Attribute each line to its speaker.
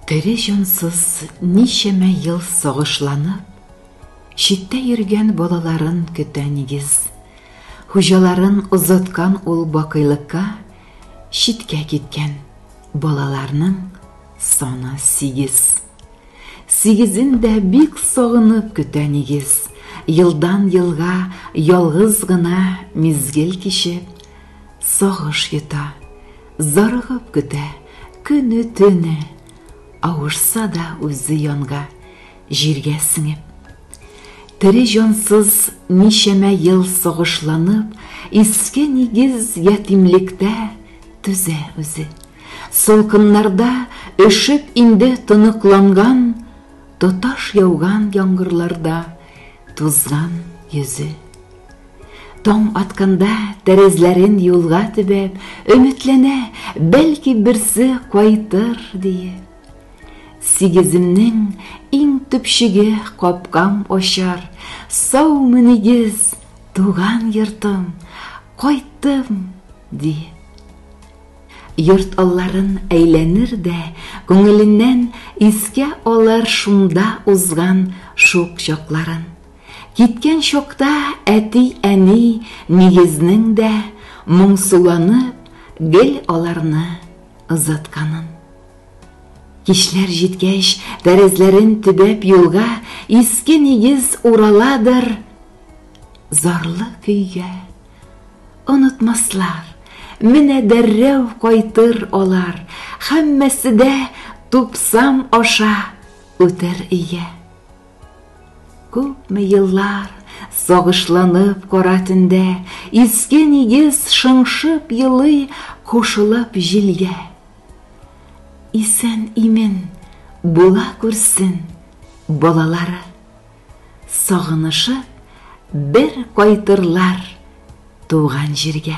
Speaker 1: Тере җансыз ничәмә ел сагышланып, читтә йөргән балаларын көтә нигез. Хуҗаларын озаткан ул бакыйлыкка читкә киткән. Балаларның саны сигез. Сигезен дә бик сагынып көтә нигез. Елдан елга ялгыз гына мизгел кичеп, сагыш йота. Зарыгып көтә көне-төне, Авышса да үзе янга, җиргә сеңеп. Тере җансыз ничәмә ел сагышланып, Иске нигез ятимлектә түзә үзе. Салкыннарда өшеп инде тоныкланган, Тоташ яуган яңгырларда тузган йөзе. Таң атканда, тәрәзләрен юлга төбәп, Өметләнә, бәлки берсе кайтыр, диеп. Сигеземнең иң төпчеге капкам ачар, Саумы нигез, туган йортым, кайттым, диеп. Йорт алларын әйләнер дә, күңеленнән Искә алыр шунда узган шук чакларын. Киткән чакта әти-әни нигезнең дә моңсуланып гел аларны озатканын. Кичләр җиткәч, тәрәзләрен төбәп юлга иске нигез ураладыр, зарлы көйгә. Онытмаслар, менә дәррәү кайтыр алар, һәммәсе дә тупсам аша үтер өйгә. Күпме еллар сагышланып кара төндә Иске нигез шыңшып елый кушылып җилгә. Исән-имен була күрсен балалары, Сагынышып бер кайтырлар туган җиргә.